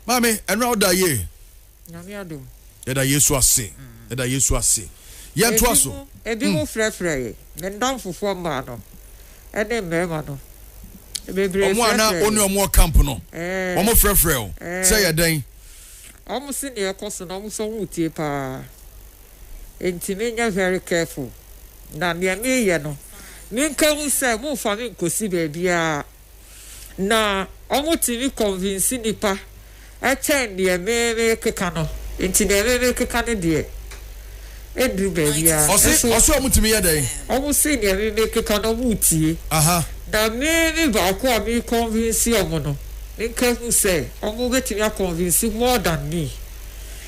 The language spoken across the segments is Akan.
Maame, ɛno a ɔda yie. Nyame adom. Yɛda Yesu ase. Yɛda Yesu ase. Yɛntoa so. Ebi mu frɛfrɛ yɛ. Me nnamfofoɔ mmaa no ɛne mmarima no. Bebree frɛfrɛ yɛ. Wɔn a na wɔne wɔn wɔ camp no. Ɛɛ. Wɔn frɛfrɛ o. Sɛ yɛ dɛn. Wɔn se nea ɛkɔ so no wɔn sɛ wɔn retie paa. Enti me nyɛ very careful. Na nea meyɛ no menka hu sɛ momfa me nkosi baabiara. Na ɔmo tumi convince nipa kyɛn deɛ me mekeka no nti deɛ me mekeka no deɛ ɛduru baabi a nso Ɔse ɔmo tumi yɛ dɛn? ɔmo se deɛ me mekeka no ɔmo tie Aha. na me me baako a me convince ɔmo no menka hu sɛ ɔmo bɛtumi a convince more than me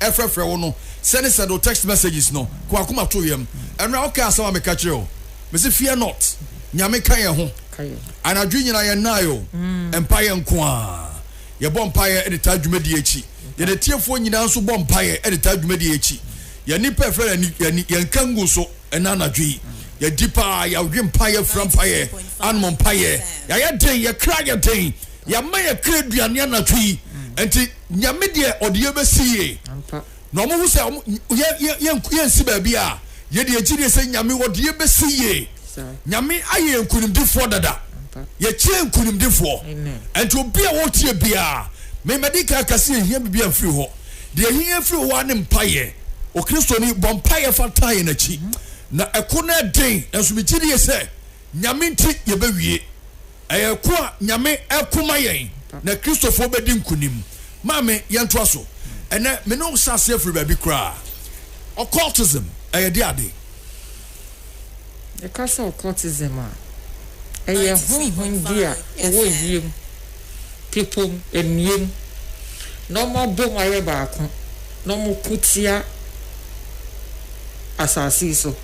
ɛfrɛfrɛ wo no sɛne sɛde wo text messages no kɔ akoma to yam ɛno a woka asɛm a meka kyerɛ o mese fear not nyame ka yɛn ho anadwo nyina yɛn nae o mm. mpaeɛ nko a yɛbɔ mpaeɛ de taa dwumadie akyi yɛn atiefoɔ nyinaa nso bɔ mpaeɛ de taa dwumadie akyi yɛn nipa ɛfrɛ no ani yɛn ka ngu so ɛna anadwo yi yɛdi paa yɛawe mpaeɛ fira mpaeɛ anom mpaeɛ yɛayɛ den yɛkra yɛ den Yɛama yɛkra aduane anadwo yi, nti Nyame deɛ ɔde yɛ bɛsi yie. Na ɔmo ho sɛ yɛnsi baabi a, yɛde agyidie sɛ Nyame ɔde yɛ bɛsi yie. Nyame ayɛ yɛn nkunimdifoɔ dada. Yɛkyɛn nkunimdifoɔ. Nti obi a ɔretie biara, me madi kan aka sɛ yɛhia biribi a mfiri hɔ. Deɛ ɛhia yɛn firi hɔ ara ne mpaeɛ. Okristoni, bɔ mpaeɛ fa taa yɛn akyi. Na ɛko no yɛ den, nanso megyidie sɛ. Nyame nti yɛbɛwie. Ɛyɛ ko a Nyame ɛko ma yɛn na Kristofoɔ bɛdi nkunim. Maame, yɛntoa so. Ɛnɛ me ne wo hyɛ aseɛ firi baabi koraa. Occultism ɛyɛ de ade? Yɛka sɛ occultism a, ɛyɛ honhom bi a ɛwɔ wiem, pepom, amiem, na wɔabom ayɛ baako na wɔko tia. asase yi so.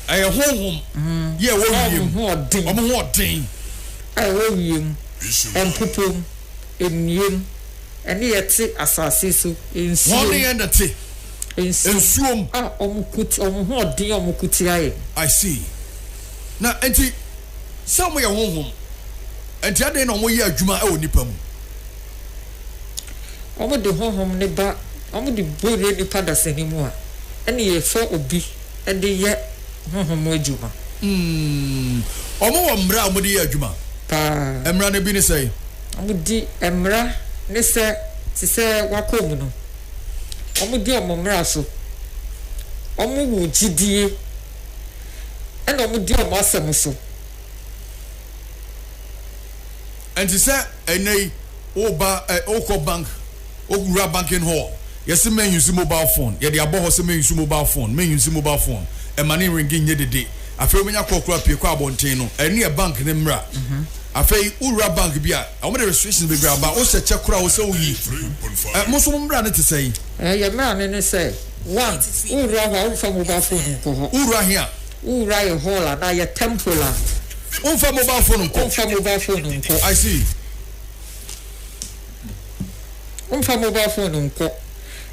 Ɛyɛ honhom yɛ ɛwɔ wiem. Wɔn ho ɔden. Wɔn ho ɔden. A ɛwɔ wiem, mpopom, nniem, ɛne ɛte asase so, nsuom. Wɔn ne yɛn na te. Nsuom. Nsuom. A wɔn ko ti, wɔn ho ɔden, wɔn ko tia yɛn. I see. Na nti sɛ wɔn yɛ honhom, nti adɛn na wɔn yɛ adwuma ɛwɔ nipa mu? wɔde Honhom no ba, wɔde bu yɛn nnipa dasani mu a, ɛnne yɛfa obi de yɛ Honhom mu adwuma. Hmm. Wɔwɔ mmara a wɔde yɛ adwuma? Paa. Mmara no bi ne sɛn? Wɔdi mmara ne sɛ, te sɛ wɔakɔ mu no, wɔdi wɔn mmara so. Wɔwo gyidie, ɛnna wɔdi wɔn asɛm so. Ɛnte sɛ ɛnnɛ yi, woba ɛ, wokɔ bank, wowura banking hall, yɛse men use mobile phone, yɛde abɔ hɔ sɛ men use mobile phone, men use mobile phone, ɛma ne ringi nyɛ dede. Afei wobɛnya call koraa pue kɔ abɔnten no, ɛno yɛ bank no mmra. Afei wowura bank bi a, wɔde restrictions bebree aba, wohyɛ kyɛ koraa wo sɛ woyi. Ɛ, mo nso mo mmra no te sɛn? Ɛ, yɛn mmra no ne sɛ, one, wowura hɔ a, womfa mobile phone nkɔ hɔ. Wowura he a, Wo wura yɛ hall anaa yɛ temple a. Wo nfa mobile phone nkɔ. Wo nfa mobile phone nkɔ. I see. Wo nfa mobile phone nkɔ.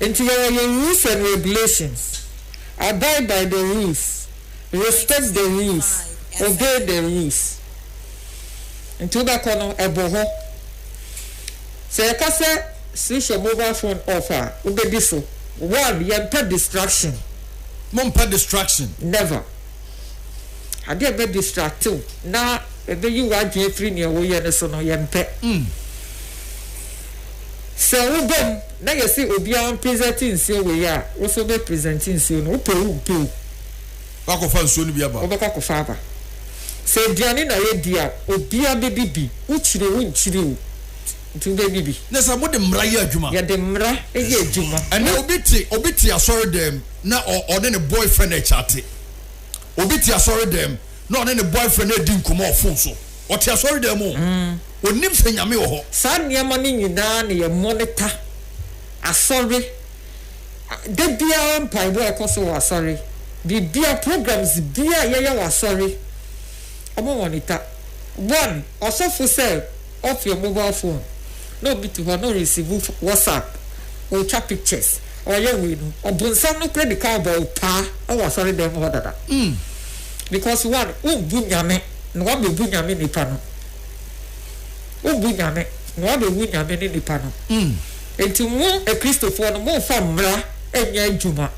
Nti yɛ wɔ yɛ rules and regulations. Abide by the rules. Respect the rules. Obey the rules. Nti wo bɛ kɔ no ɛbɔ hɔ. Sɛ yɛ ka sɛ switch yɛ mobile phone off a wo bɛ di so. One yɛ mpɛ distraction. mompɛ distraction. Never. Ade a ɛbɛ distract wo na ɛbɛyi w'adwene afiri nea woyɛ no so no, yɛmpɛ. Sɛ woba mu na yɛse obiara mpresent nsuo wei a, wo nso wobɛ present nsuo no, wopɛ o wompɛ o. Woakɔfa nsuo no bi aba. Wobɛkɔ akɔfa aba. Sɛ aduane na yɛdi a, obiara bɛdi bi, wokyiri o wonkyiri o. Nti wobɛ di bi. Ne sɛ mode mmara yɛ adwuma. Yɛde mmara yɛ adwuma. Ɛnɛ obi te obi te asɔre dɛm na ɔne ne boyfriend ɛkyate. Obi te asɔre dɛm na ɔne ne boyfriend ɛdi nkɔmɔ wɔ phone so. Ɔte asɔre dɛm o. Onim sɛ nyame wɔ hɔ. Saa nneɛma no nyinaa na yɛ monitor. Asɔre, da biara mpaebɔ a ɛkɔ so wɔ asɔre, biribiara, programs biara a yɛyɛ wɔ asɔre, wɔn monitor. One, ɔsɔfo sɛ. off your mobile phone na obi te hɔ na ɔresivu whatsapp, ɔretwa pictures, ɔreyɛ wei no, ɔbonsam no kora di kan bɔ wo paa wɔ asɔre dan mu hɔ dada. Because one, wombu Nyame na woabebu Nyame nipa no. Wombu Nyame na woabebu Nyame ne nipa no. Enti mo Akristofoɔ no momfa mmara nyɛ adwuma.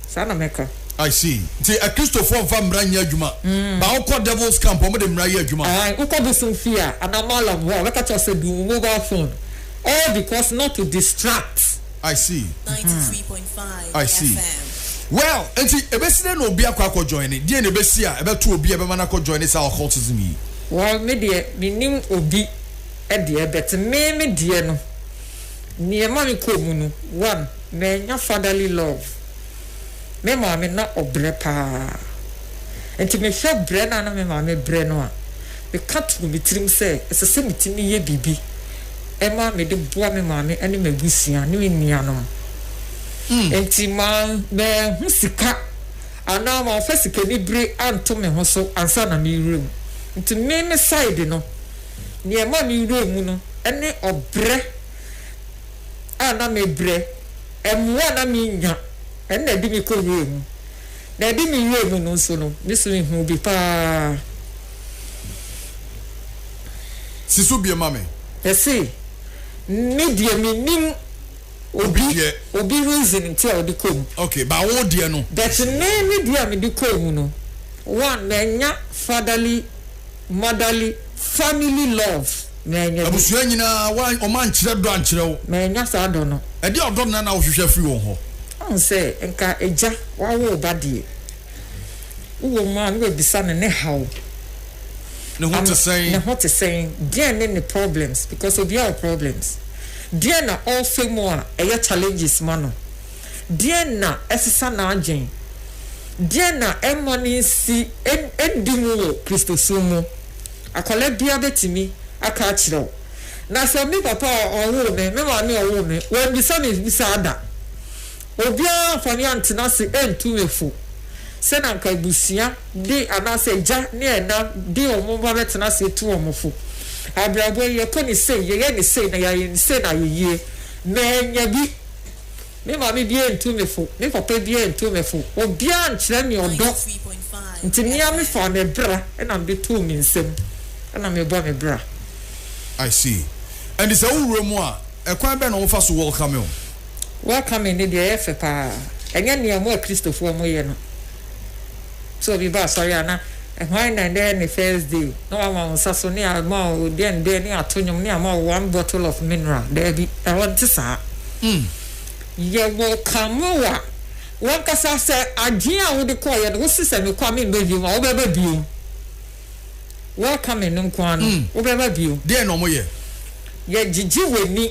Saa na mɛka. I see. Nti akristofoɔ nfa mmra nyɛ adwuma but wokɔ devil's camp a wɔde mmra yɛ adwuma. Ae, wokɔ bosom fie a anaa mallam hɔ a wɔbɛka kyerɛ wo sɛ bu wo mobile phone all because not to distract. I see. I see. Well, nti ɛbɛsi dɛn na obi akɔ akɔ joine? Deɛn na ɛbɛsi a ɛbɛto obi a ɛbɛma no akɔ joine saa occultism yi? Well, me deɛ mennim obi deɛ but me me deɛ no, Neɛ ɛma me kɔɔ mu no, one, mannya fatherly love. Me maame na ɔbrɛ paa. Nti mehwɛ brɛ no a na me maame brɛ no a, meka too me tirim sɛ ɛsɛ sɛ metumi yɛ biribi ma mede boa me maame ne m'abusua ne me nuanom. Nti manhu sika anaa mamfa sikanibere anto me ho so ansa na mewura mu. Nti me me side no, Nea ɛmaa me werɛ mu no ne ɔbrɛ a na mebrɛ, mmoa a na minnya, ɛno na ɛde me kɔ wura mu. Nea ɛde me werɛ mu no nso no, me nso mihuu bi paa. Si so bio ma me. Ese, Me deɛ mennim obi obi reason nti a ɔde kɔɔ mu. Okay, but wo deɛ no? But me me deɛ a mede kɔɔ mu no, one, mannya fatherly. Madali family love na ɛnyɛ bi. Abusua nyinaa wa wɔn ankyerɛ dɔ ankyerɛ wo. Ma ɛnya saa dɔ no. Ɛdeɛ ɔdɔ no na na wohwehwɛ afiri wɔn hɔ. Woahu sɛ nka agya wawo wo ba deɛ. Wowɔ mu a na wabisa no ne haw. Ne ho te sɛn. Ne ho te sɛn. Deɛn ne ne problems because obiara wɔ problems. Deɛn na ɔrefa mu a ɛyɛ challenges ma no. Deɛn na ɛsesa n'adwene? Deɛn na ɛmma no nsi nndi mu wɔ Kristosom mu? Akwadaa biara bɛtumi aka akyerɛ wo. Na sɛ me papa a ɔwoo me, me maame a ɔwoo me, wɔammisa me mmisaa da. Obiara amfa me antena ase antu me fo sɛ na anka abusua de anaasɛ agya ne ɛna de wɔn mma bɛtena ase atu wɔn fo. Abrabɔ yi, yɛkɔ no sei, yɛyɛ no sei, na yɛayɛ no sei na ayɛ yie. Mannya bi. Me maame biaa ntu me fo, me papa biaa ntu me fo, obiaa nkyerɛ me ɔdɔ, nti mea me faa me bra na mede too me nsam na me bɔ me bra. I see, ɛnti sɛ wo wura mu a, ɛkwan bɛn na wɔfa so welcome wo? Welcoming no deɛ ɛyɛ fɛ paa, ɛnyɛ nea mo Akristofoɔ mo yɛ no. Sɛ obi ba asɔre a na hwan na ɛnɛ yɛ ne first day na wama wo nsa so ne ama wo dɛn dɛn ne ato nwom ne ama wo one bottle of mineral. Daabi, ɛhɔ nte saa. Yɛwɔ Kamoa, w'ankasa sɛ adwene a wode kɔeɛ no wose sɛ mekɔ a memmɛ biom a, wobɛba biom. Welcoming no nko ara no, wobɛba biom. Deɛn na wɔyɛ? Yɛgyegye w'ani.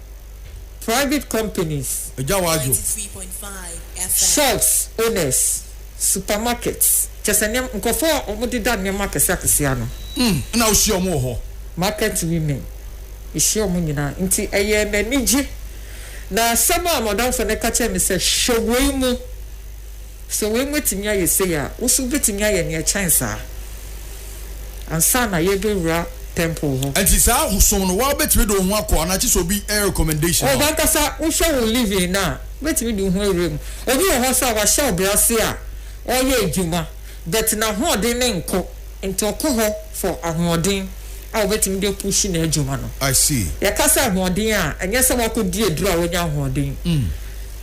private companies, Agya Wajo. shops owners, supermarkets, kyerɛ sɛ nneɛma, nkurɔfoɔ a wɔdeda nneɛma akɛseɛ akɛseɛ ano. Mm, ɛna wohyia wɔn wɔ hɔ. Market women, mehyia wɔn nyinaa. Nti ɛyɛɛ me anigye. Na asɛm a m'adamfo no ka kyerɛɛ me sɛ, Hwɛ wei mu. Sɛ wei mu atumi ayɛ sei a, wo nso wobɛtumi ayɛ nea ɛkyɛn saa ansa na yɛrebɛwura tɛmpol hɔ. Ɛnti saa ahosom no, woara wobɛtumi de wo ho akɔ anaa kyesɛ obi recommendation ma wo? Ɔɔ, w'ankasa wohwɛ wo living no a, wobɛtumi de wo ho awura mu. Obi wɔ hɔ nso a wahyɛ wo brɛase a ɔreyɛ adwuma but n'ahoɔden no nkɔ nti ɔkɔ hɔ for ahoɔden a wobɛtumi de apush no adwuma no. I see. Yɛka sɛ ahoɔden a, ɛnyɛ sɛ woakɔdi aduro a woanya ahoɔden.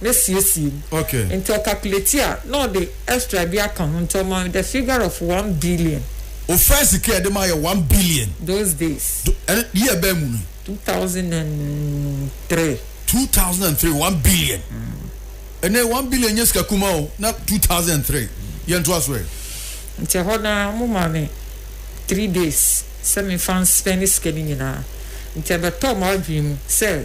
na siesie mu. Nti ɔkakuleti a, na ɔde extra bi aka ho, nti ɔma me the figure of one billion. O first sika a yɛde ma yɛ one billion. Those days. Ɛno year bɛn mu no? Two thousand and three. Two thousand and three, one billion. Ɛnɛ one billion nyɛ sika kuma o, na two thousand and three. Yɛn to aso ɛ. Nti ɛhɔ no ara, wɔn maa me three days sɛ me nfa nspɛne sika no nyinaa. Nti ɛbɛtɔɔ m'adwene mu sɛ.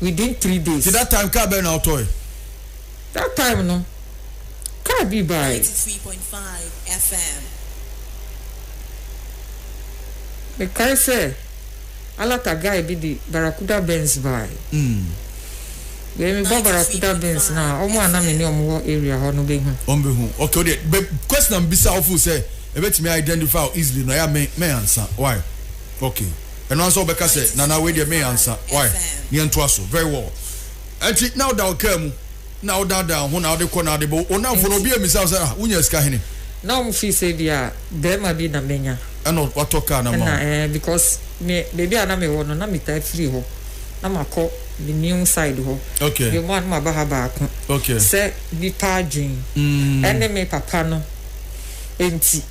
within three days. Nti that time car bɛn na wotɔɔe? That time no car bi baae. Ninety three point five FM. Mekae sɛ Alata guy bi de Barracuda Benz baae. Deɛ mebɔ Ninety three Barracuda point Benz no a, five wɔn a na me ne FM. wɔn wɔ area hɔ no bɛhu. Wɔn bɛhu. Okay, wo deɛ, bɛ question a mebisa a wofeel sɛ ɛbɛtumi a identify wo easily no, ɛyɛ a mɛ, mɛ answer. Why? Okay. ɛno ansa ɔbɛka sɛ nana wei deɛ meyɛ ansa why ne yɛntoa so very well ɛnti na woda wo kaa mu na wodaadaa ho na wode kɔ na wode bɔ wo namfo no obi amisa wo sɛ ah wonya sika hene na wɔn fi sɛ bi a bɛrima bi na menya ɛna watɔ kaa na ma ɛna ɛɛ because me baabi a na mewɔ no na metaa firi hɔ na makɔ me new side hɔ okay yɛ mu a na maba ha baako okay sɛ nipa adwene mm. ɛne me papa no ɛnti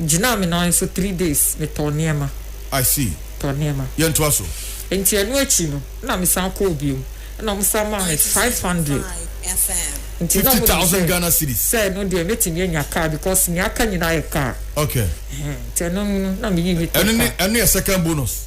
gyinaa me nan so three days, metɔɔ nneɛma. I see. Tɔɔ nneɛma. Yɛntoa so. Nti ɛno akyi no, ɛna mesan kɔɔ biom, ɛna wɔn san maa me five hundred. Nti na wɔn nim sɛ sɛ ɛno deɛ mɛtumi anya car because nea aka nyinaa yɛ car. Okay. Nti ɛno no na meyii me tɔ car. Ɛno ne ɛno yɛ second bonus.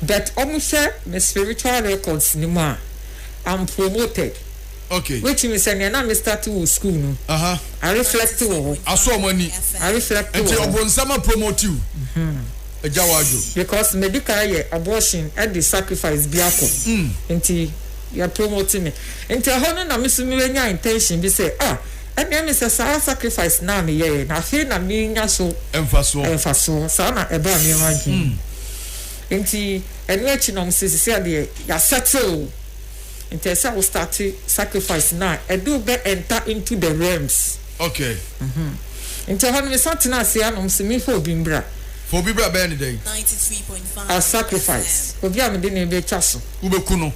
But ɔmo hwɛ me spiritual records no mu a I'm promoted. Okay. Which means sɛ nea na me start wɔ school no, I reflect wɔ hɔ. Asɔ ɔmo ani. I reflect wɔ hɔ. Nti ɔbonsam a promote you. Ɛgya wɔ adwo. Because medi kan yɛ abortion ɛde sacrifice bi akɔ. Nti yɛ promote me. Nti ɛhɔ no na me nso me nya intention bi sɛ ah ɛneɛ me sɛ saa sacrifice no a me yɛɛ no afei na me nya so. Mfasoɔ. Mfasoɔ. Saa na ɛbaa me ho adwene mu. Nti ɛno akyi no ɔmo se sisia deɛ ya settle nti ɛsɛ wo starte sacrifice no a ɛde wo bɛ enter into the realms. Okay. Mhm. Nti ɛhɔ no me san tena ase a na ɔmo se me fa obi mbra. Fa obi bra bɛyɛ no dɛn? A sacrifice. Obi a mede no bɛ twa so. Wo bɛ ku no.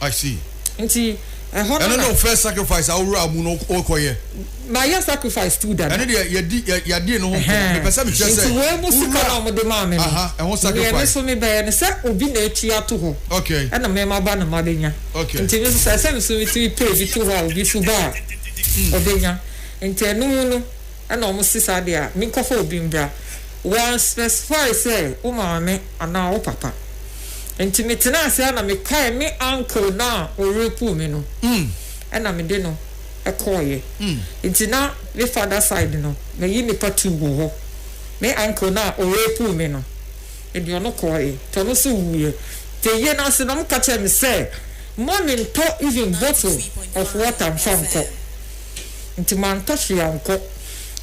I see. Nti ɛhɔ no na. Ɛno na ɔfɛ sacrifice a ɔwura mu no ɔkɔ yɛ. Ma yɛ sacrifice tu dada. Ɛno deɛ yɛdi yɛ yɛadi no ho nkɔmɔ mepɛ sɛ mekyɛ sɛ. Nti wei mu sika na wɔde maa mi no. Aha ɛho sacrifice. Nea mi so mi bɛyɛ no sɛ obi na etua ato hɔ. Okay. Ɛna mi ma ba na ma bɛ nya. Okay. Nti mi so sɛ ɛsɛ mi so mi tumi pay bi to hɔ a obi so ba a ɔbɛ nya nti ɛno mu no. ɛna ɔmo se saa deɛ a menkɔfa obi mbra, wɔn specify sɛ wo maame anaa wo papa, nti metenaa ase ara na mekae me uncle no a ɔreku me no, ɛna mede no kɔɔeɛ, nti na me father side no mayi nipa two wɔ hɔ, me uncle no a ɔreku me no mede ɔno kɔɔeɛ, nti ɔno nso wuuiɛ, nti ayie no ase no ɔmo ka kyerɛɛ me sɛ mma me ntɔ even bottle of water mfa nkɔ. Nti mantɔ hwee ankɔ.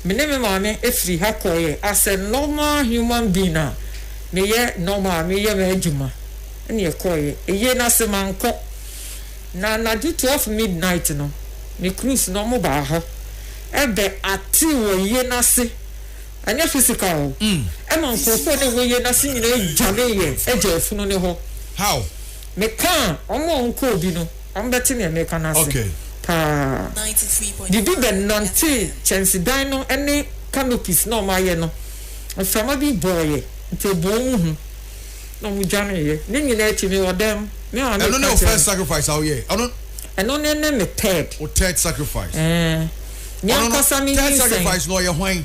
Me ne me maame firi ha kɔeɛ as a normal human being a meyɛ normal a meyɛ m'adwuma ɛna yɛkɔeɛ. Ɛyie no ase mankɔ. Na anadwo twelve midnight no me crews no wɔn baa hɔ bɛ active wɔ yie no ase ɛnyɛ physical o ɛma nkorɔfoɔ a na ɛwɔ yie no ase nyinaa dwaneeɛ gyaa funu no hɔ. How? Meka a, wɔn a wɔkɔɔ bi no, wɔbɛte nea mereka no ase paa. Biribi bɛnantee kyɛnsedan no ne canopies na wɔayɛ no. Mframa bi bɔeɛ, nti ɛbɔɔ wɔn hu, na wɔdwaneeɛ. Ne nyinaa akyi no, mewɔ dɛm, me ara meka kyerɛ. Ɛno ne wo first sacrifice a woyɛɛ? Ɛno. Ɛno ne ne me third. Wo third sacrifice. Ɛɛ, me ankasa me nyinsɛn. Ɔno no third sacrifice no, ɔyɛ hwan?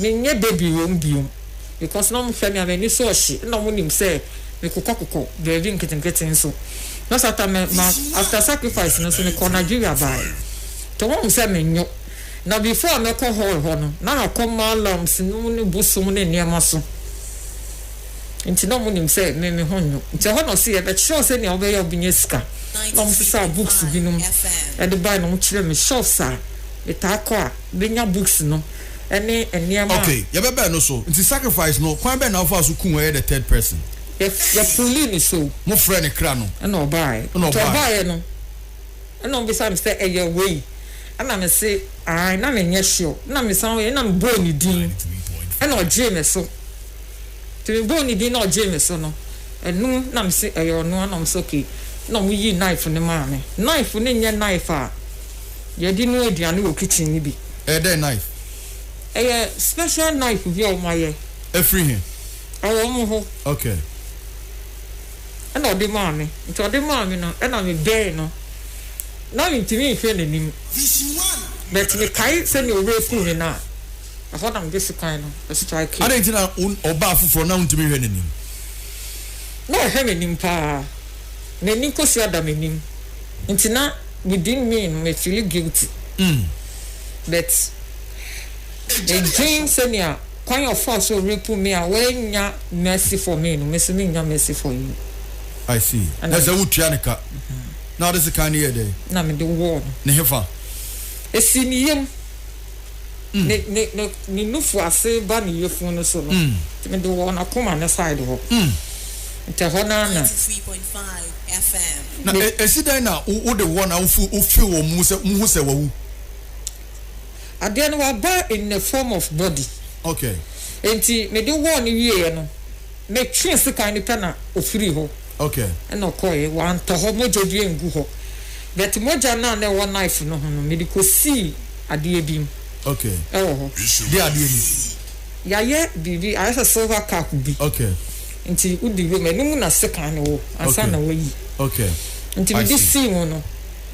Me nyɛ baby wɔ mu bio because na ɔmo hwɛ me a m'ani so ɔhye na ɔmo nim sɛ me kokɔ kokɔ baabi nketenkete nso na so ata me ma after sacrifice no nso me kɔɔ Nigeria bae nti ɔmo hu sɛ me nyo na before a mɛkɔ hall hɔ no na makɔ malams nom ne bosom ne nneɛma so nti na ɔmo nim sɛ me me ho nyo nti ɛhɔ na ɔse yɛ bɛ kyerɛw sɛ nea ɔbɛyɛ ɔbɛ nya sika na ɔmo sesaa books binom ɛde bae na ɔmo kyerɛ me shops a me taa kɔ a. benya books no ne nneɛma a. Okay, yɛbɛba ɛno so. Nti sacrifice no, kwan bɛn na wofaa so kuu ɛyɛ the third person? Yɛ pullii no so. Mo frɛɛ ne kra no. Ɛna ɔbaaɛ. Ɛna ɔbaaɛ. Nti ɔbaaɛ no, ɛna ɔbisa me sɛ ɛyɛ wei? Ɛna me se ae, na me nyɛ sure. Ɛna me san, ɛna me bɔɔ ne din, ɛna ɔgyee me so. Nti me bɔɔ ne din na ɔgyee me so no, ɛno na me se ɛyɛ ɔno, ɛna ɔmo se okay. Ɛna ɔmo yii knife no maa me. Knife no nyɛ knife a. Yɛde noa aduane wɔ kitchen no bi. Ɛyɛ dɛn knife? Ɛyɛ special knife bi a wɔn ayɛ. Ɛfiri he? Ɛwɔ wɔn hɔ. Okay. Ɛna ɔde maa me. Nti ɔde maa me no, ɛna me bɛɛ no. Na me ntumi nhwɛ n'anim. But me kae sɛnea ɔrepuu me no a, ɛhɔ na me de sekan no strikee. Adɛn nti na ɔbaa foforɔ na wontumi nhwɛ n'anim? Na ɔhwɛ m'anim paa. na ani nkosua da m'anim nti na within me no me feeli guilty but edwen sɛnea kwan a ɔfaa so rape me a wannya mercy for me no me nso mennya mercy for you. I see. Na sɛ wotua ne ka na wode sekan no yɛɛ dɛn? Na mede wɔɔ no. Ne hefa? Ɛsii ne yam. ne ne ne ne nufu ase ba ne yefun no so no, nti mede wɔ n'akoma no side hɔ. Nti ɛhɔ no ara na. Na e, esi dɛn na wo wode wɔn a wofi wofi wɔn mu sɛ muhu sɛ wawu? Adeɛ no waba in the form of body. Okay. Nti mede wɔɔ no wieɛ no, Metwee sekan no pɛ na ɔfirii hɔ na ɔkɔeɛ. Wantɔ hɔ, mogya bi angu hɔ. But mogya no a na ɛwɔ knife no ho no, mede kɔsii adeɛ bi mu wɔ hɔ. Deɛ adeɛ bi? Yɛayɛ biribi, ayɛ sɛ silver cup bi. Nti wode wom, ɛno mu na sekan no wɔ ansa na wɔayi. Nti mede sii mu no,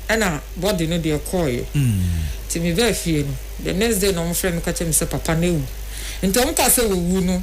ɛna body no deɛ kɔeɛ. Nti mebaa fie no, the next day na wɔfrɛɛ me ka kyerɛɛ me sɛ papa no awu. Nti wɔkaa sɛ wawu no,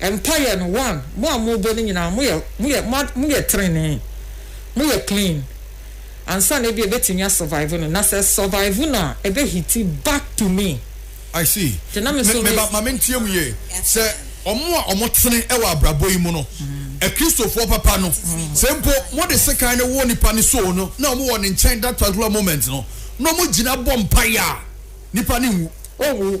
Mpaeɛ no one mo a mo bɔ no nyinaa mo yɛ mo yɛ mo mo yɛ trenee mo yɛ clean ansa na ebi ebetumi a survive no na sɛ survive no a ebe hiti back to me. I see. Nti na me nso me. Me ba ma me ntie mu yie sɛ ɔmo a ɔmo tene ɛwɔ abrabɔ yi mu no akristofoɔ papa no sɛ mpo mo de sekan no wɔ nipa ne soul no na ɔmo wɔ ne nkyɛn that particular moment no na ɔmo gyina bɔ mpaeɛ a nipa no nwu. Ɔnwu.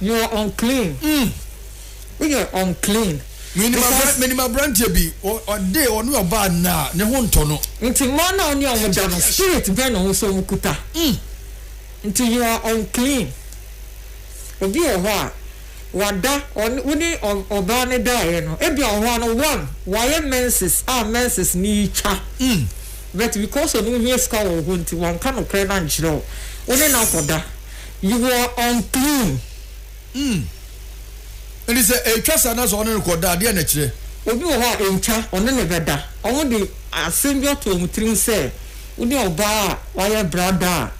You are unclean. Mm. Woyɛ unclean. Menim abra, Because- menim aberanteɛ bi, ɔ- ɔde ɔne ɔbaa nna a, ne ho ntɔ no. Nti mmaa no a ɔne ɔmo da no, spirit bɛn na ɔmo so ɔmo kuta? Mm. Nti you are unclean. Obi wɔ hɔ a, wada, ɔne, wo ne ɔ- ɔbaa no daeɛ no, ebi a wɔ hɔ a no, one, wayɛ menses a menses no retwa. Mm. But because ɔno ohia sika wɔ wo hɔ nti, wanka nokorɛ no ankyerɛ wo. Wo ne no akɔda. You are unclean. Hmm. Enti sɛ ɛretwa saa na sɛ ɔne no kɔda a, deɛn na ɛkyerɛ? Obi wɔ hɔ a, ɛntwa, ɔne no bɛda. Wɔde asɛm bi ato wɔn tirim sɛ, Wo ne ɔbaa a wayɛ bra da a,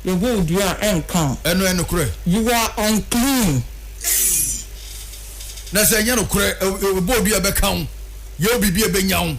yɛbɔ wo dua a, ɛnka wo. Ɛno yɛ nokorɛ? You are unclean. Ei! Na sɛ ɛnyɛ nokorɛ, ɛ, ɛ, wɔbɔ wo dua a, ɛbɛka wo? Yɛ wo biribi a ɛbɛnya wo?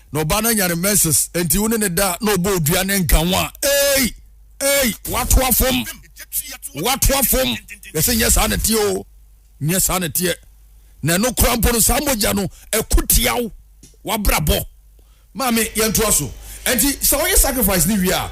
na ɔbaa no anya ne menses nti wo ne ne da na ɔbɔ odua ne nka ho a ei ei watoa fam watoa fam yɛsɛ nyɛ saa na teɛ o nyɛ saa na teɛ na ɛno kora mpo no saa mogya no ɛko tia wo wabrabɔ maame yɛntoa so ɛnti sɛ ɔyɛ sacrifice ne wie a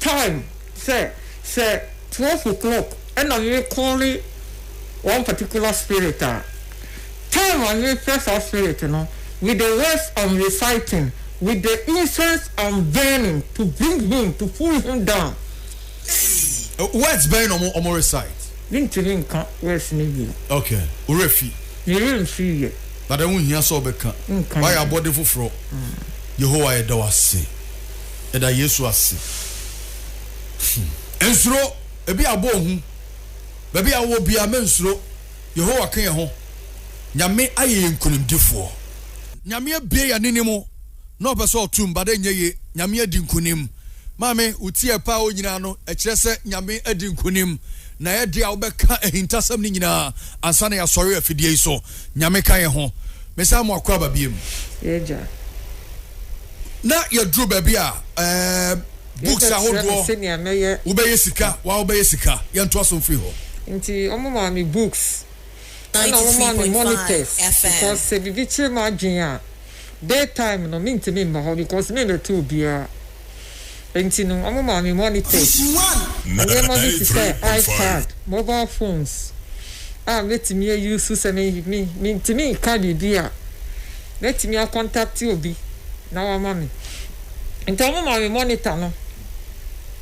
time sɛ sɛ twelve o'clock ɛna yere kɔɔle one particular spirit a time a yere frɛ saa spirit no with the words am reciting with the incense am burning to bring him to pull him down. Eii words bɛn na ɔmo ɔmo recite. Me ntumi nka words no yie. Ok wo werɛ fi. Me werɛ nfiri yɛ. But ɛho nhia sɛ ɔbɛka. Nka yie. Wayɛ abɔde foforɔ. Yehowa yɛda wo ase. Yɛda Yesu ase. Hmm. Nsuro. Ebi abɔ ohu. Baabi a wowɔ biara, mensuro. Yehowa ka yɛn ho. Nyame ayɛ yɛn nkonimdifoɔ. Nyame abue yɛn anim na ɔpɛ sɛ ɔto mu, but ɛnyɛ yie. Nyame adi nkonim. Maame, wo ti a ɛpɛ a ɔnyinaa no, ɛkyerɛ sɛ Nyame adi nkonim. Na yɛ dea wobɛka ahintasɛm no nyinaa ansa na yɛasɔre afidie yi so. Nyame ka yɛn ho. Mesan mo akwaaba biom. Y'agya. Na yɛduru baabi a ɛɛm books ahodoɔ wobɛyɛ sika wa wobɛyɛ sika. Yɛntoa so mfiri hɔ. Nti wɔn maa me books ɛna wɔn maa me monitors because sɛ biribi kyere m'adwene a day time no mentumi mma hɔ because me na ɛte obiara. Enti no, wɔmaa me monitors, nneɛma bi te sɛ iPad, mobile phones a mɛtumi ayusu sɛ mentumi nka biribi a, mɛtumi akɔntakte obi na wama me. Enti wɔmaa me monitor no,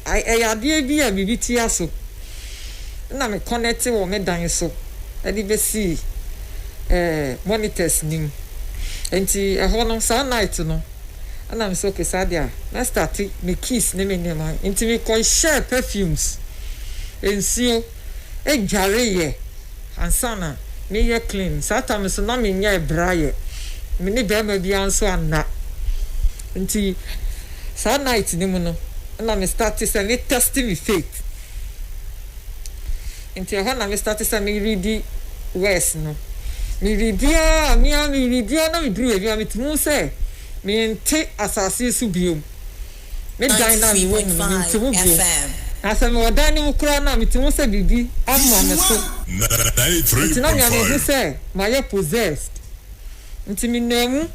ɛyɛ adeɛ bi a biribi tia so na me kɔnɛte wɔ me dan so de bɛsii monitors no mu. Enti ɛhɔ no, saa night no, Ɛna me sɛ ok saa deɛ a mɛ starte me kiss ne me nneɛma nti me kɔ hyɛɛ perfumes, nsuo, dwareeɛ ansa na me yɛ clean saa time no nso na me nyɛɛ bra yɛ me ne barima biara nso anna nti saa night no mu no ɛna me starte sɛ me test me faith. Nti ɛhɔ na me starte sɛ me redi wɛs no me redi aa me aa me redi aa na me duru baabi a me tumi hu sɛ me nte asase yi so biom me dan no a me wɔ mu no me nte mu biom na sɛ me wɔ dan no mu koraa no a me tumi hu sɛ biribi ama me so nti na me a me hu sɛ ma yɛ possessed nti me naa mu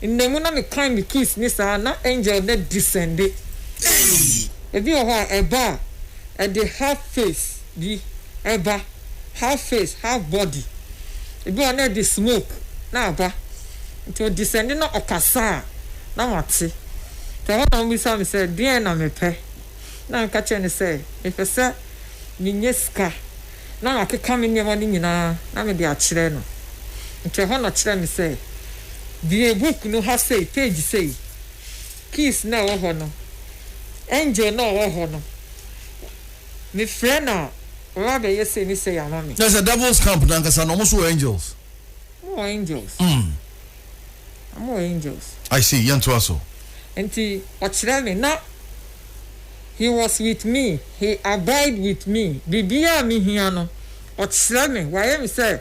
nna mu na me kan me keys ne saa na angel no descende ebi wɔ hɔ a ɛba a. ɛde half face bi ɛba, half face, half body, ebi wɔ hɔ a na ɛde smoke na aba, nti ɔdesɛnde na ɔkasa a na mate, nti ɛhɔ na ɔmmisa me sɛ deɛn na mepɛ, na meka kyerɛ no sɛ mepɛ sɛ menya sika na makeka me nneɛma no nyinaa na mede akyerɛ no, nti ɛhɔ na ɔkyerɛɛ me sɛ bue book no ha sei, page sei, Keith na ɔwɔ hɔ no, Angel na ɔwɔ hɔ no, me frɛ no a ɔba bɛ yɛ sei ne sei ama me. Na sɛ devils camp no ankasa no ɔmo nso wɔ angels? Ɔmo wɔ angels, mm. ɔmo wɔ angels. I see, yɛn to aso. Nti ɔkyerɛ me na he was with me, he abide with me, biribiara a me hia no ɔkyerɛ me, wayɛ me sɛ.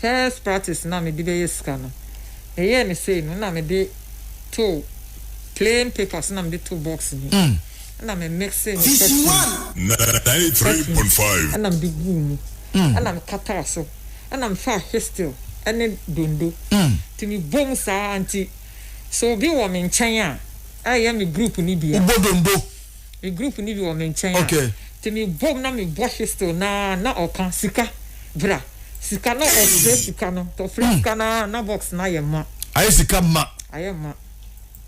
First practice no a mede bɛyɛ sika no, meyɛɛ no sei no, na mede too plain paper so na mede too box mu, ɛna me mixee ne perfume, perfume ɛna mede guu mu, ɛna mekataa so, ɛna mefaa histil ɛne dondo, nti mebɔ mu saa ara, nti sɛ obi wɔ me nkyɛn a, ɛyɛ me group no bi a. Wobɔ dondo Me group no bi wɔ me nkyɛn a, nti me bom na me bɔ whistle no ara na ɔka sika, bra, sika na ɔfrɛ sika no, nti ɔfrɛ sika no ara na box no ayɛ ma. Ayɛ sika ma. Ayɛ ma.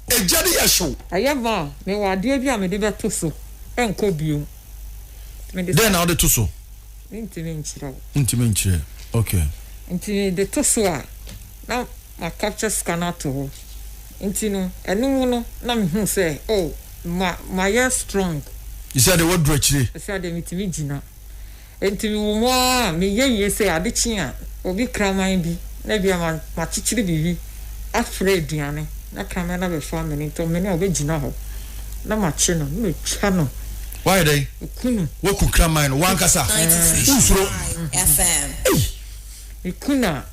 Egya no yɛ hyew. Ayɛ ma a, me wɔ adeɛ bi a me de bɛ to so nkɔ biom. Dɛn na wode to so? Me ntumi nkyerɛ wo. Ntumi nkyerɛ, okay. Nti me de to so a, na. Na capture sika no ato hɔ. Nti no ɛno mu no na me hu sɛ oh ma mayɛ strong. Sɛ deɛ waduru akyire. Sɛ deɛ metumi gyina. Nti me wɔ mu ara me yɛ wie sɛ ade kye a obi kraman bi na ebia ma makyekyere biribi afra aduane na kraman no abɛfa amene nti ɔmene a ɔbɛ gyina hɔ na makye no na matwa no. Wayɛ dɛn? Maku no. Waku kraman no wankasa? Wonsuro? Ei! Me ku no a.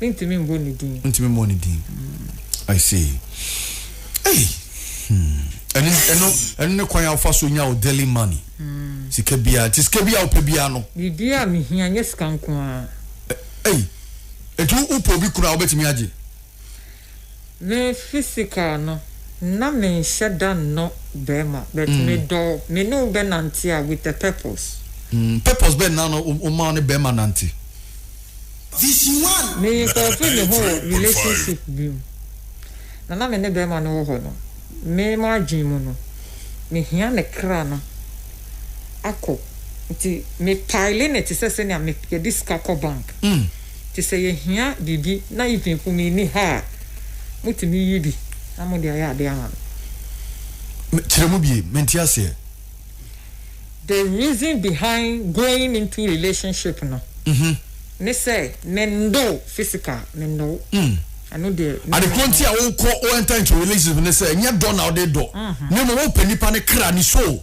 Mentumi mbɔ ne din. Mentumi mmɔ ne din. Hmm, I see. Hey. Hmm. Ɛno ɛno ɛno ne kwan a wofa so nya wo daily money. Hmm. Sika biara nti sika biara wopɛ biara no. Biribi a mehia nyɛ sika nko ara. Hey. Etu wopɛ obi kura a wobɛtumi agye. Me physical no na me nhyɛ da nnɔ bɛɛma but me dɔ me ne wo bɛ nante a with a purpose. Mm purpose bɛn na na wo ma wo ne bɛɛma nante? Me nsɔfri me ho wɔ relationship bi mu na na me ne bɛɛma no wɔ hɔ no me m'adwen mu no me hia ne kra no akɔ nti me pile ne te sɛ sɛnea me yɛde sika kɔ bank. Nti sɛ yɛhia biribi na even po me nni ha a, motumi yi bi na mode ayɛ adeɛ ama me. Me, kyerɛ mu bie, mente aseɛ. The reason behind going into relationship no, ne sɛ me nnɔ wo physical, me nnɔ wo. Mm. Ɛno deɛ, me Ade korɔ nti a wokɔ, wo enter into relationship ne sɛ, ɛnyɛ dɔ na wode dɔ, na mmom wopɛ nipa no kra, ne soul.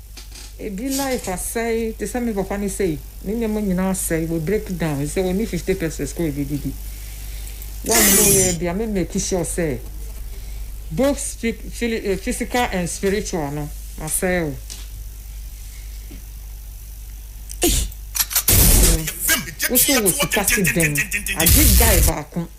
Ebi life asɛe te sɛ me papa no sei ne nneɛma nyinaa asɛe wɔ break down sɛ ɔni fifty pesos kɔ ebedidi wɔn mo yɛ bia me make sure sɛ both physical and spiritual no masɛe o. Woso wɔ sika te dɛn agye guy baako.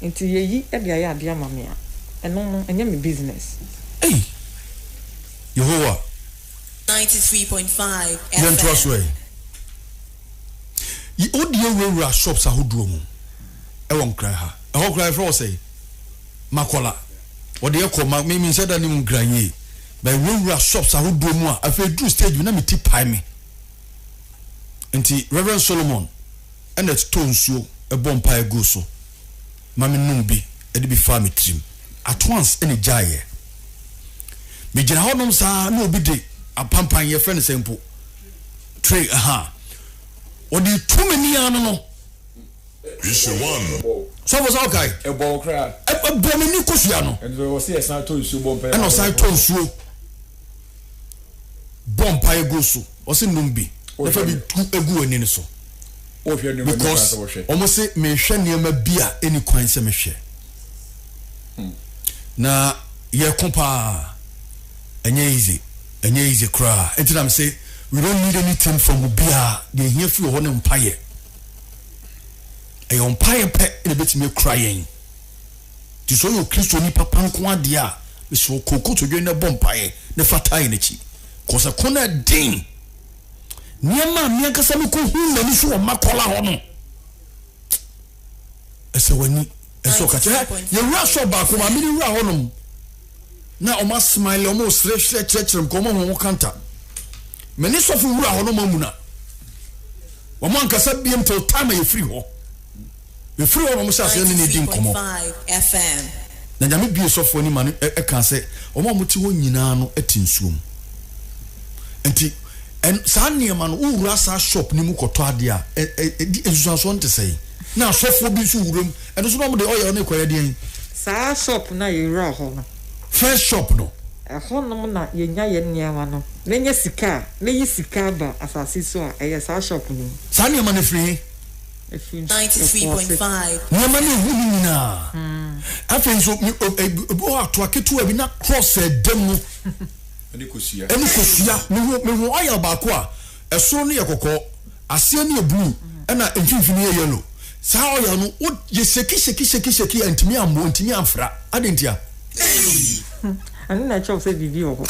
Nti yeyi de ayɛ ade ama me a, ɛno no, ɛnyɛ me business? Ei! Yehowa, yɛntoa so ɛ! Yi wo deɛ wurawura shops ahodoɔ mu wɔ Nkran ha. Ɛhɔ koraa yɛfrɛ hɔ sɛn? Makola. Wɔde yɛ kɔ ma me menhyɛ da nim Nkran yie. But wurawura shops ahodoɔ mu a afei duru stage bi na me ti pae me. Nti Reverend Solomon. ɛna ɛtotɔɔ nsuo bɔɔ mpaeɛ guu so ma me nom bi de bi faa me tirim at once ɛna ɛgyaeɛ me gyina hɔ nom saa na obi de apampan yɛfrɛ no sɛ mpo tray aha ɔde tu m'ani ano no Issue one. sɔfo sɛ wokae Ɛbɔ wo koraa. ɛbɔ m'ani kosua no Ɛnso wɔ se yɛsan tɔ nsuo bɔ mpaeɛ ɛna ɔsan tɔɔ nsuo bɔ mpaeɛ gu so ɔse nom bi na fa bi gu w'ani no so because wɔn se mehwɛ nneɛma bi a ɛni kwan sɛ mehwɛ hmm. na yɛko paa ɛnyɛ easy ɛnyɛ easy koraa ɛnti nam se we don't need anything from obiara deɛ ɛhia firi hɔ ne mpaeɛ ɛyɛ mpaeɛ pɛ na ɛbɛtumi akura yɛn Nti sɛ ɔyɛ okristoni papa nko ara deɛ a, mesrɛ wo kɔ kotodwe na bɔ mpaeɛ na fa tae n'akyi. Kɔsɛ ko no ɛden. Nneɛma a me ankasa mekɔhu m'ani so wɔ makɔla hɔ no, ɛsɛ w'ani ɛsɛ ɔka kyɛ yɛwura sɔ baako ma mene wura hɔnom na ɔma smile ɔma ɔserɛserɛ kyerɛkyerɛ m ka ɔma ho kanta mene sɔfo wura hɔnom amuna wɔn ankasa biem till time a yɛfiri hɔ Mefiri hɔ na wɔhyɛɛ aseɛ ne no redi nkɔmmɔ. Na Nyame buee sɔfoɔ no ma no kaa sɛ, Wɔn a mote hɔ nyinaa no te nsuo mu. Nti, saa nneɛma no, wowura saa shop no mu kɔtɔ adeɛ a, nsusuansoɔ no te sɛn? Na asɔfoɔ bi nso wura mu, ɛno nso na wɔde ɔyɛ ɔne kɔyɛ deɛn? Saa shop no a yɛwuraa hɔ no. First shop no. Ɛhɔnom na yɛnya yɛn nneɛma no. Menya sika a, meyi sika aba asase so a, ɛyɛ saa shop no mu. Saa nneɛma no firi he? afi po ase. Nneɛma no ehu no nyinaa. Afei nso ebi wɔ hɔ a toa ketewa bi na cross a ɛda mu ɛne kosua. Ɛne kosua. Mehu mehu oil baako a ɛsoro no yɛ kɔkɔɔ, aseɛ no yɛ blue, ɛna mfimfini yɛ yellow. Saa oil no wo yɛ shake shake shake shake a ntumi ammɔ, ntumi amfra. Adɛn ntia? ɛno na ɛkyerɛw sɛ biribi wɔ hɔ.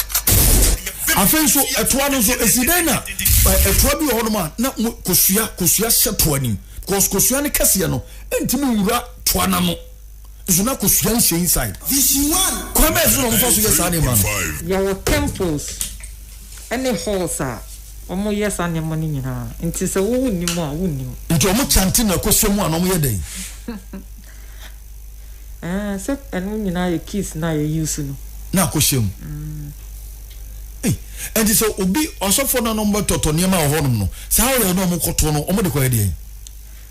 afei nso ɛtoa no nso ɛsi dɛn na ɛtoa bi wɔ hɔnom a na kosua kosua hyɛ toa nim because kosua no kɛseɛ no ɛntumi nwura toa no ano nso na kosua nhyɛ inside kwan bɛyɛ so na wɔmfa so yɛ saa nneɛma no yɛwɔ temples ɛne halls a wɔyɛ saa nneɛma no nyinaa nti sɛ wowo nnim a wonnim nti wɔkyante na kosua mu a na wɔyɛ dɛn Ɛɛ sɛ ɛno nyinaa yɛ keys na yɛ use no. Na akɔ hyɛ mu. Ei ɛnti sɛ obi ɔsɔfo na nom bɛtɔtɔ nneɛma wɔ hɔnom no saa oil na ɔmo kɔtɔ no ɔmo de kɔ yɛ deɛn?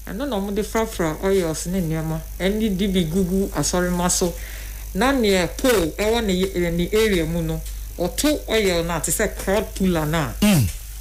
Ɛno na ɔmo de frafra oils ne nneɛma ɛne de bi gugu asɔre mma so na neɛ pole ɛwɔ ne area mu no ɔto oil no a te sɛ crowd puller no a.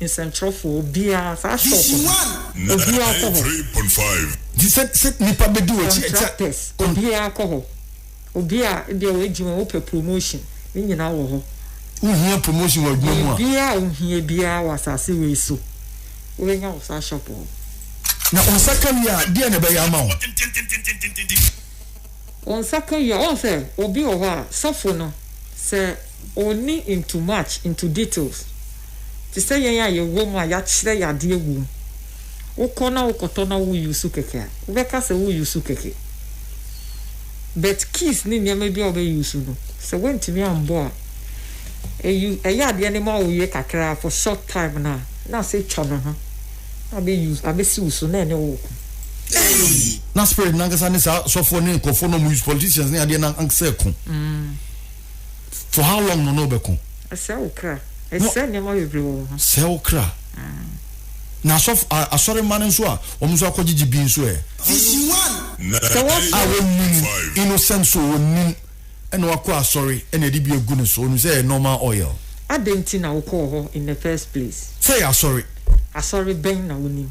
Nsɛnkyerɛwfoɔ biara saa shop no obiara kɔ hɔ. Nti sɛ sɛ nipa bɛ di wɔ akyi. Contractors obiara kɔ hɔ obia ebia wɔ adwuma mu opɛ promotion ne nyinaa wɔ hɔ. Wo hia promotion wɔ adwuma mu a. Biribiara a wo hia biara wɔ asase wei so wo bɛ nya wɔ saa shop hɔ. Na wo nsa ka wie a deɛ na ɛbɛyɛ ama wo. Wo nsa ka wie a wɔn sɛ obi wɔ hɔ a sɔfo no sɛ. ɔnni into much into details te sɛ yɛn a yɛwɔ mu a yɛakyerɛ yɛn adeɛ agu mu. Wokɔ na wokɔtɔ na wo use kɛkɛ a, wobɛka sɛ wo use kɛkɛ. But keys ne nneɛma bi a wobɛ use no, sɛ woantumi ambɔ a, ɛyu ɛyɛ adeɛ no ma wo yɛ kakra for short time no a, na asɛ twa ne ho na abɛ use abɛsi wo so na ɛne wo reko. Eii! Na spirit no ankasa ne saa sɔfoɔ ne nkorɔfoɔ no a wɔn use politicians ne adeɛ no ankasa reko. for how long no na ɔbɛko. ɛsɛ wo kra ɛsɛ nneɛma bebree wɔ wo ho. sɛ wo kra na asɔfo asɔremma no nso a wɔn nso akɔgyegye bi nso ɛ. sɛ wɔfɔ. a wɔnnim innocent so wɔnnim ɛna wakɔ asɔre ɛna ɛde bi agu ne so ɔnim sɛ ɛyɛ normal oil. adɛn nti na wokɔɔ hɔ in the first place. sɛ yɛ asɔre. asɔre bɛn na wonim.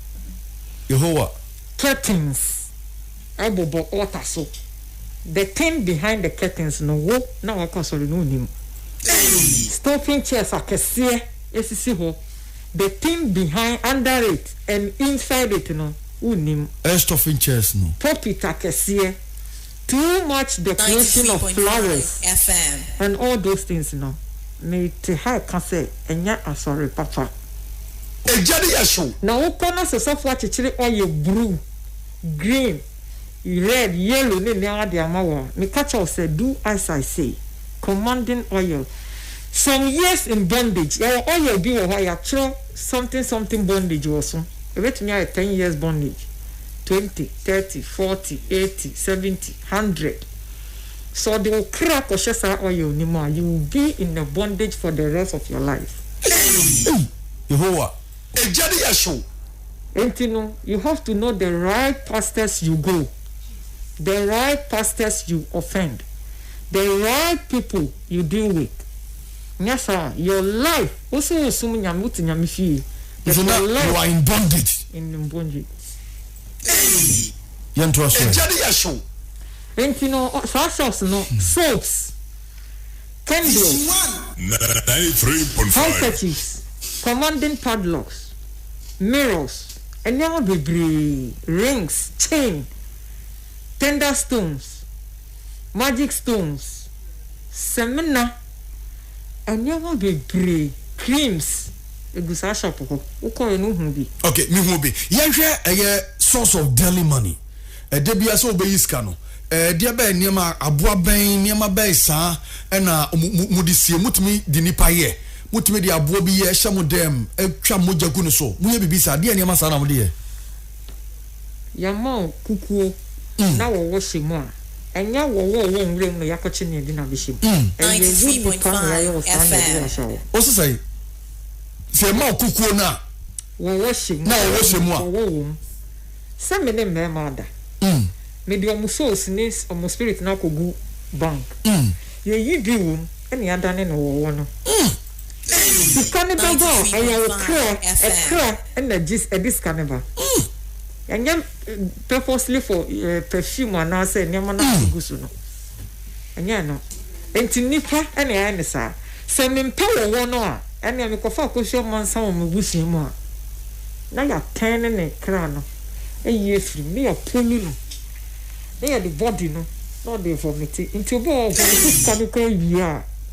Yehowa. Curtains bobɔ altar so. The thing behind the curtains no wo na wakɔ asɔre no wonnim. Stocking chairs akɛseɛ sisi hɔ. The thing behind, under it and inside it no wonnim. Stocking chairs no. Pulpit akɛseɛ. Too much decoration of flowers and all those things no, me te ha reka sɛ ɛnyɛ asɔre papa. Egya no yɛ hyew. Na wo kɔ na sosɔfo akyekyere ɔyɛ bruu, green, red, yellow ne nneɛma de ama wo a, meka kyerɛ wo sɛ do as I say. Commanding oil. Some years in bondage, yɛwɔ oil bi wɔ hɔ a yɛakyerɛw something something bondage wɔ so. Ebetumi ayɛ ten years bondage. twenty, thirty, forty, eighty, seventy, hundred. Sɛ ɔde wo kra kɔhyɛ saa oil no mu a, you will be in a bondage for the rest of your life. Ei! Yehowa, egya de yɛ hyew. Enti no, you have to know the right pastors you go, the right pastors you offend, the right people you deal with. Nyɛ saa your life wo so wo som nyame wo te nyame fie but your life you are in bondage in bondage. Hey yɛn to aso ɛgya de yɛ show. Nti no saa shops no soaps candles. Handkerchiefs commanding padlocks mirrors nneɛma bebree rings chain tender stones. Magic Stones, Samina, nneɛma bebree, creams, egu saa shop hɔ. Wokɔɔɛ no wohuu bi? Ok, mehu obi. Yɛnhwɛ ɛyɛ source of daily money. Ɛda biara sɛ wobɛyi sika no, ɛdeɛ bɛɛ nneɛma, aboa bɛn, nneɛma bɛɛ saa ɛna mode sie? Motumi de nipa yɛ? Motumi de aboa bi yɛ hyɛ mo dɛm twa mogya gu ne so? Moyɛ biribi saa? Deɛ nneɛma saa na mode yɛ? Yɛama wo kukuo na wɔwɔ hyɛ mu a, ɛnyɛ wɔwɔ wɔ nwura mu na yɛakɔkye ne yɛde no abɛhyɛ mu. Ɛyɛ wo nipa na yɛayɛ wo saa na yɛde wo ahyɛ hɔ. Ɔse sɛn? Sɛ yɛma wo kukuo no a. Wɔwɔ hyɛ mu. Na wɔwɔ hyɛ mu a. Wɔwɔ wɔ mu. Sɛ me ne mmarima ada. Mede wɔn souls ne wɔn spirit no akɔgu bank. Yɛyi bi wɔ mu na yɛadane no wɔwɔ no. Sika ne ba ba a, ɛyɛ wo kra, ɛkra na ɛgye, ɛde sika ne ba. Ɛnyɛ purposely for eh, perfume anaasɛ nneɛma no a gu so no. Ɛnyɛ no. Nti nipa ɛna ɛyɛ ne saa. Sɛ mempɛ wɔ hɔ no a, ɛnea mekɔfa akɔsi ɔmansa wɔ me busua mu a, na yɛatɛn ne ne kra no ayi afiri mu, na yɛapolu no, na yɛde body no na ɔde vomite. Nti obi wɔ hɔ, ɔde sika no kɔ awie a,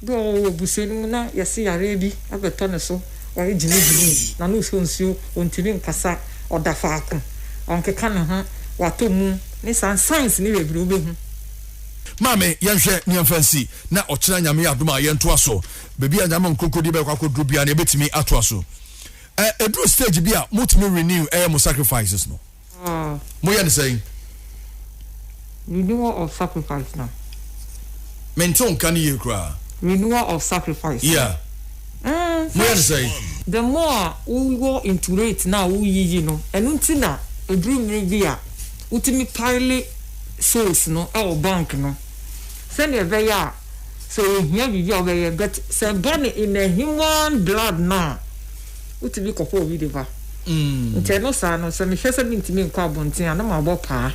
Bi wɔ hɔ ɔwɔ abusua no mu na yɛse yareɛ bi abɛtɔ ne so, ɔyɛ gyimi gyimi, n'ano nsuo nsuo, ɔntumi nkasa, ɔda faako, ɔnkeka ne ho, watɔ mu ne saa signs no bebree wobɛhu. Maame yɛnhwɛ ne yɛmfa nsi na ɔkyena Nyame adom a yɛntoa so, baabi a Nyame nkonkodi bɛkɔ akɔduru biara no yɛbɛtumi atoa so. Ɛduru stage bi a motumi renew ɛyɛ mo sacrifices no. Moyɛ no sɛn? Renewal of sacrifice na. Mente wo nka no yie koraa. Renewal of sacrifice. Yeah. Mm, Moyɛ no sɛn? The more a wowɔ into rate na a woyiyi no, ɛno nti na ɛduru mmere bi a wotumi pile souls no wɔ bank no sɛdeɛ ɛbɛyɛ a sɛ ɛhia biribi a wobɛyɛ but sɛ ɛba no in a human blood no a, wotumi kɔpɛ obi de ba. Nti ɛno saa no, sɛ mehwɛ sɛ mentumi nkɔ abɔnten a, na mabɔ paa.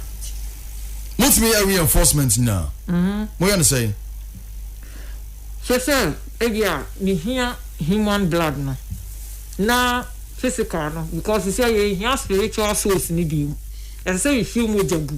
Motumi yɛ reinforcement nyinaa? Mm-hmm. Moyɛ no sɛn? Hwɛ sɛ ebi a mehia human blood no na physical no because sɛ yɛhia spiritual souls no bi mu. Ɛsɛ sɛ yɛhwie mogya gu.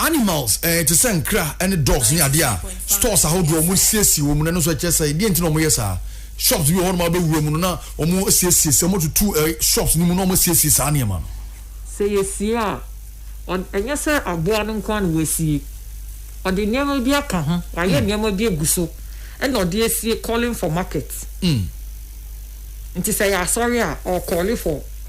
Animals eh te sɛ nkra ne dogs ne adeɛ a stores ahodoɔ a wɔn siesie wɔn mu no ɛno nso ɛkyerɛ sɛ deɛ nti na wɔn yɛ saa shops bi wɔ hɔ nom a wɔbɛwura mu no na wɔn siesie sɛ wɔn tutu eh shops no mu na wɔn siesie saa nneɛma no. Sɛ yɛsie a ɔn ɛnyɛ sɛ aboa no nko ara na wasie ɔde nneɛma bi aka ho wayɛ nneɛma bi agu so ɛna ɔde asie calling for market nti sɛ ɛyɛ asɔre a ɔrecalli for.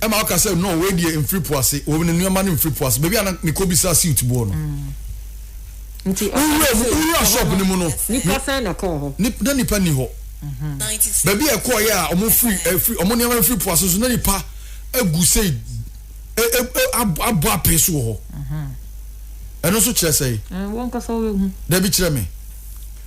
ɛma woka sɛ no wei deɛ mfiri po ase wɔ ne nneɛma no mfiri po ase baabi a na mekɔ bisa silt boɔ no nti wowura mu wowura shop no mu no nipa sɛn na ɛkɔɔ hɔ nip na nipa ni hɔ mhm. baabi a ɛkɔɔ yɛ a wɔn firi ɛfiri wɔn nneɛma mfiri po ase so na nipa egu sɛ e, e, e, abɔ apee so wɔ hɔ mhm. ɛno nso kyerɛ sɛ wɔn kasa wɔn ehu dabi kyerɛ mi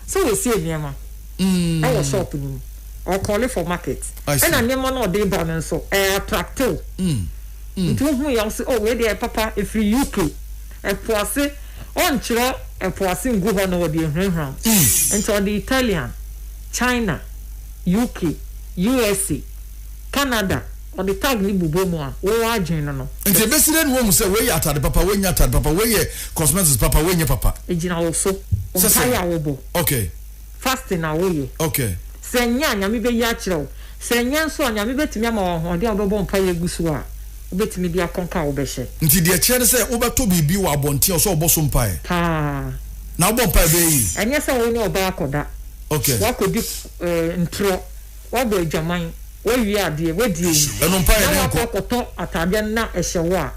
sɛ wɔsi nneɛma. mm. Ɛwɔ shop no mu. Ɔkɔle for market. Ɛna nneɛma no a ɔde ba no nso ɛyɛ attractive. Mm. Mm. Nti ohun yam sɛ oh wei deɛ ɛyɛ papa efiri UK. Ɛpo ase ɔnkyerɛ ɛpo ase ngu hɔ na ɔde ahurahura mu. Mm. Nti ɔde Italian, China, UK, USA, Canada ɔde tag ne bobɔ mu a wo adwene no no. Nti ebesi dɛ na wɔn mu sɛ wei yɛ atade papa wei nyɛ atade papa wei yɛ cosmetics papa wei nyɛ papa. Egyina wo so. Mpaeɛ a wɔbɔ. Okay. Fasting na woyɛ. Okay. Sɛ ɛnyɛ a, Nyame bɛyi akyerɛ wo. Sɛ ɛnyɛ nso a, Nyame bɛtumi ama wo ahoɔden a wobɛbɔ mpaeɛ agu so a wobɛtumi de akɔnka a wobɛhyɛ. Nti deɛ ɛkyerɛ ne sɛ wobɛtɔ biribi wɔ abɔnten a ɔsɛ ɔbɔ so mpaeɛ. Paa. Na wobɔ mpaeɛ bɛyɛ yie. Ɛnyɛ sɛ wo ne ɔbaa akɔda, Okay. woakɔdi eh, ntorɔ, woabɔ adwaman, woawie adeɛ, woadi awu, Ɛno mpaeɛ na ne nkɔ. woakɔ akɔtɔ ataadeɛ no na ɛhyɛ wo a,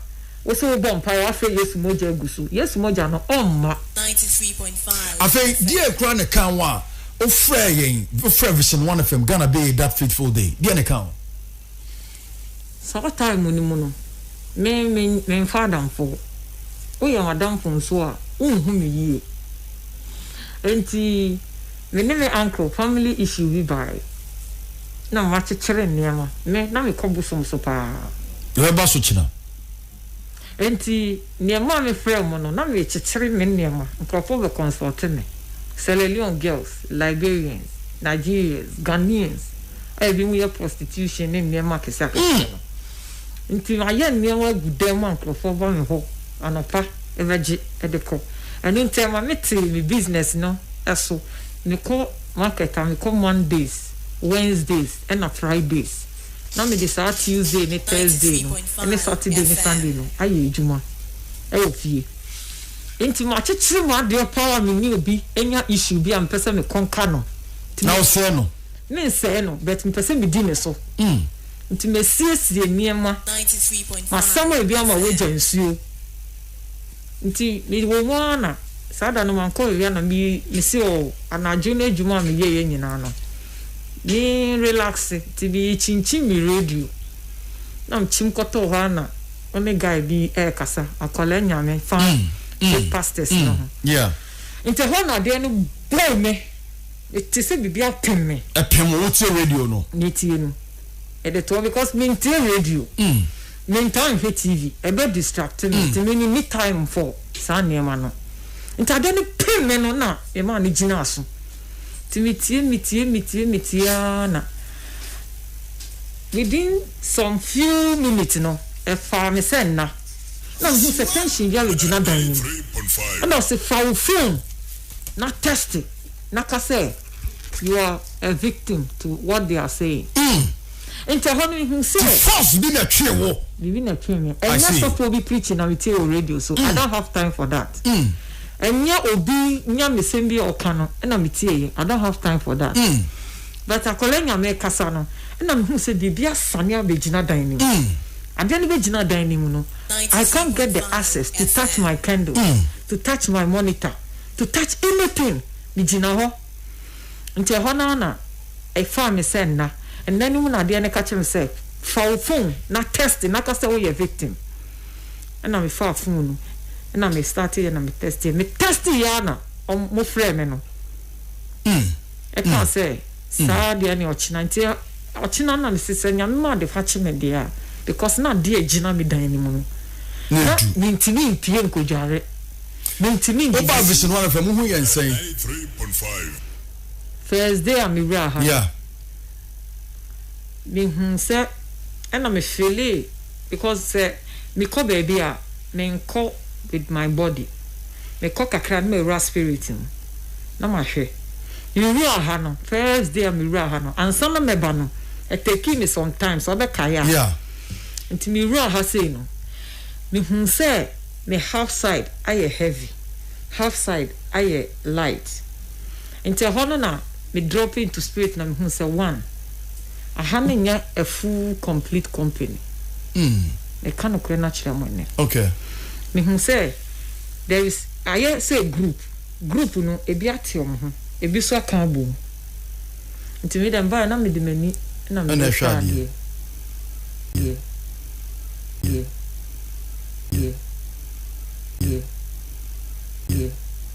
Wo se wobɔ mpae woafrɛ Yesu mogya agu so. Yesu mogya no ɔmma. Afei deɛ kura ne kan wo a wofrɛ yɛn wofrɛ vision one fm Ghana beye that fateful day deɛ ne kan wo. Saa time no mu no me me menfa adamfo woyɛ madamfo nso a wonhu me yie enti me ne me uncle family issue bi bae na makyekyere nneɛma me na mekɔ bosom so paa. Yɛbɛba so kyena. Enti nea ɛmaa mefrɛɛ mo no, na merekyekyere me nneɛma. Nkurɔfo bɛkɔnsɔlte me, Sierra Leone girls, Liberians, Nigerians, Ghanaians a ebinom yɛ prostitution ne nneɛma akeseakese no. Enti mayɛ nneɛma agu dɛn ma nkurɔfo ba me hɔ anɔpa bɛgye de kɔ. Ɛno nti ɛma mete me business no so. Mekɔ market a, mekɔ Mondays, Wednesdays, ɛnna Fridays. na mede saa Tuesday ne Thursday no ne Saturday ne Sunday no ayɛ adwuma wɔ fie. Nti makyekyere mu adeɛ paa a mene obi nya issue bi a mepɛ sɛ mekɔnka no. Na wosɛe no? Mensɛe no but mepɛ sɛ medi ne so. Mm. Nti masiesie nneɛma. Masam ebi ama wagya nsuo. Nti me wɔ mu ara na saa da no mankɔ awia na me me se ɔɔ anadwo no adwuma a meyɛ yɛ nyinaa no me relaxe nti me kyinkyim me radio na me kyim kɔtɔɔ hɔ ara na me ne guy bi ɛɛkasa akwadaa nyame fa mm, mm, fake pastors mm, no ho yeah. nti hɔ na adeɛ no bɔɔ me mete sɛ biribi apem me ɛpem wo tie radio no metie no ɛde toɔ because mentie radio mm. Me ntaa nhwɛ TV ɛbɛ distract me nti me ni me time for saa nneɛma no nti adeɛ no pem me no na me maa no gyina aso nti me tie me tie me tie me tie aa na within some few minutes no ɛfaa me sɛ nna na me hu sɛ tension bi ayɛ gyina dan no mu ɛna ɔse fa wo phone na test na ka sɛ. You're a victim to what they are saying. Mm. Nti ɛhɔ no ihu sɛ. Ti force bi na twe wo. Bibi na twe mi. Ɛnyɛ sɔfo bi preaching na mi tie wɔ radio so. Mm. I don't have time for that. Mm. Ɛnyɛ obi nyamesɛm bi a ɔka no ɛna mi tie yɛ. I don't have time for that. Mm. But akɔla nyame kasa no ɛna mi hu sɛ biribi asane abɛgyina dan ne mu. Mm. Adeɛ no bɛgyina dan ne mu no. I can't get the access to touch my candle, mm. to touch my monitor, to touch anything. Megyina hɔ. Nti ɛhɔ no ara na ɛfaa me sɛ nna. Nna no mu na adeɛ no ka kyerɛɛ me sɛ, Fa wo phone na test na ka sɛ woyɛ victim. Ɛna mefaa phone no na me starteeɛ na me testeeɛ. Me testeeɛ ara na wɔfrɛɛ me no. Ɛkaa sɛ, Saa deɛ ne ɔkyena. Nti ɔkyena na mese sɛ Nyame ma adepa kye me deɛ a, because na adeɛ a ɛgyina me dan no mu no, na mentumi mpue nkɔdware. Mintimi ngye. Woba vision hɔ anɔpɛ mo ho yɛ nsɛn. First day a me wuraa ha no. Yeah. Me hu sɛ ɛna me feelee because sɛ me kɔ baabi a me nkɔ with my body me kɔ kakra na ma wura spirit mu na ma hwɛ. Me wuraa ha no first day a me wuraa ha no ansa na mɛ ba no ɛtɛkii me sometimes ɔbɛ kae a. Yeah. Nti me wuraa ha sei no Mehunu sɛ me half side ayɛ heavy, half side ayɛ light. Nti ɛhɔ no na me drop into spirit na mehunu sɛ one, aha no nyɛ a full complete company. Meka nokorɛ no akyerɛ mo nnɛ. Mehunu sɛ there is, ayɛ sɛ group, group no ebi ate wɔn ho, ebi nso aka abom. Nti me dɛ mbae na mede m'ani na mede hwɛ adeɛ. Deɛ. Deɛ. Deɛ. Deɛ. Deɛ.